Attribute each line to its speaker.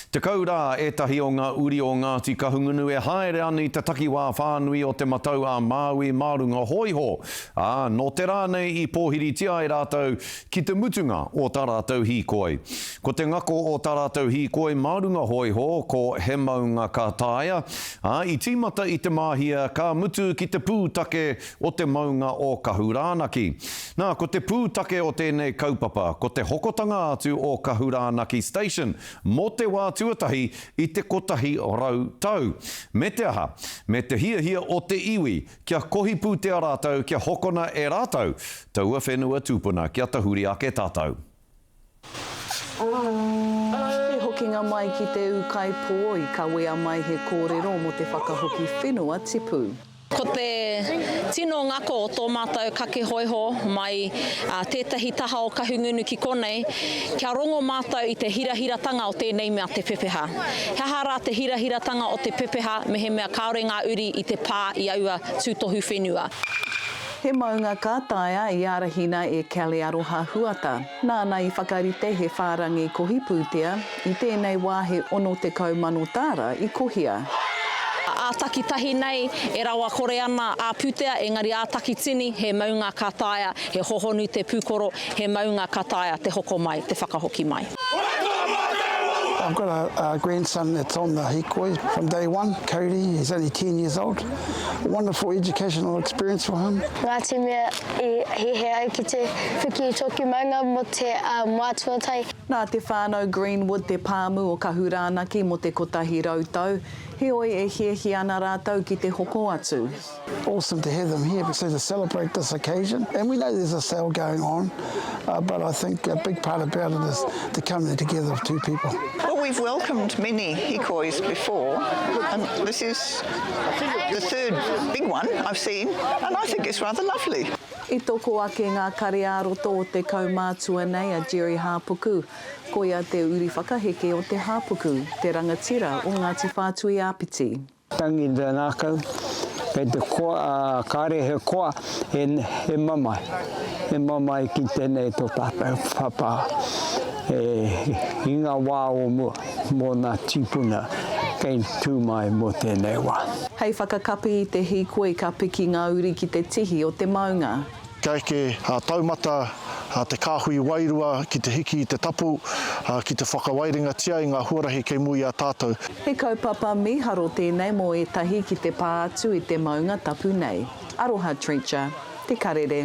Speaker 1: Tekau rā ētahi o ngā uri o Ngāti Kahungunu e haere ana i te takiwā whānui o Te Matau-a-Māui mā runga hōiho, ā, nō te rā nei i pōhiritia ai rātou ki te mutunga o tā rātou hīkoi. Ko te ngako o tā rātou hīkoi mā runga hōiho ko He Maunga ka Taea, ā, i tīmata i Te Māhia ka mutu ki te pūtake o te maunga o Kahurānaki. Nā, ko te pūtake o tēnei kaupapa, ko te hokotanga atu o Kahurānaki Station mō te wā tuatahi i te kotahi rau tau. Me te aha, me te hiahia o te iwi kia kohi pūtea rātou kia hokona e rātou taua whenua tūpuna kia tahuri ake tātou.
Speaker 2: He hokinga mai ki te ūkaipō i kawea mai he kōrero mō te whakahoki whenua tipu. Ko te
Speaker 3: tino ngako o tō mātou kake hōiho mai tētahi taha o Kahungunu ki konei, kia rongo mātou i te hirahiratanga o tēnei mea te pepeha. He aha rā te hirahiratanga o te pepeha mehemea kāore ngā uri i te pā i aua tūtohu whenua? He
Speaker 2: maunga ka taea i ārahina e Kelly Aroha Huata. Nāna i whakarite he whārangi kohi pūtea, i tēnei wā he 60,000 tāra i kohia. Ā
Speaker 3: takitahi nei, e rawakore ana ā pūtea, engari ā takitini, he maunga ka taea, he hohonu te pūkoro, He maunga ka taea te hoko mai, te whakahoki mai.
Speaker 4: I've got a, a grandson that's on the hikoi from day one, Cody, he's only 10 years old. A wonderful educational experience for him. Ngāti mea
Speaker 5: i hihe ai ki te whiki i tōku maunga mō te uh, mātua tai. Nā te whānau
Speaker 2: Greenwood te pāmu o Kahurānaki mō te 100 tau, heoi e hiahia ana rātou ki te hoko atu. Awesome to have
Speaker 4: them here because they celebrate this occasion and we know there's a sale going on but I think a big part about it is the coming together of two people. Well we've welcomed
Speaker 6: many hikois before and this is the third big one I've seen and I think it's rather lovely. I toko ake
Speaker 2: ngā kare-ā-roto o te kaumātua nei a Gerry Hāpuku. Koia te uri whakaheke o Te Hāpuku, te rangatira o Ngāti Whātui-ā-Piti. Tangi i te
Speaker 7: ngākau, kei te koa, ā, kāre he koa, he, he mamae, he mamae ki tēnei tō tātou papa e, i ngā wā o mua, mō nā tīpuna kei tū mai mō tēnei wā. Hei whakakapi
Speaker 2: i te hīkoi ka piki ngā uri ki te tihi o te maunga. Kia eke
Speaker 8: a taumata a te kāhui wairua ki te hiki i te tapu, ā, ki te whakawairingatia i ngā huarahi kei mua i a tātou. He kaupapa
Speaker 2: mīharo tēnei mō ētahi ki te pā atu i te maunga tapu nei. Aroha Trencher, Te Karere.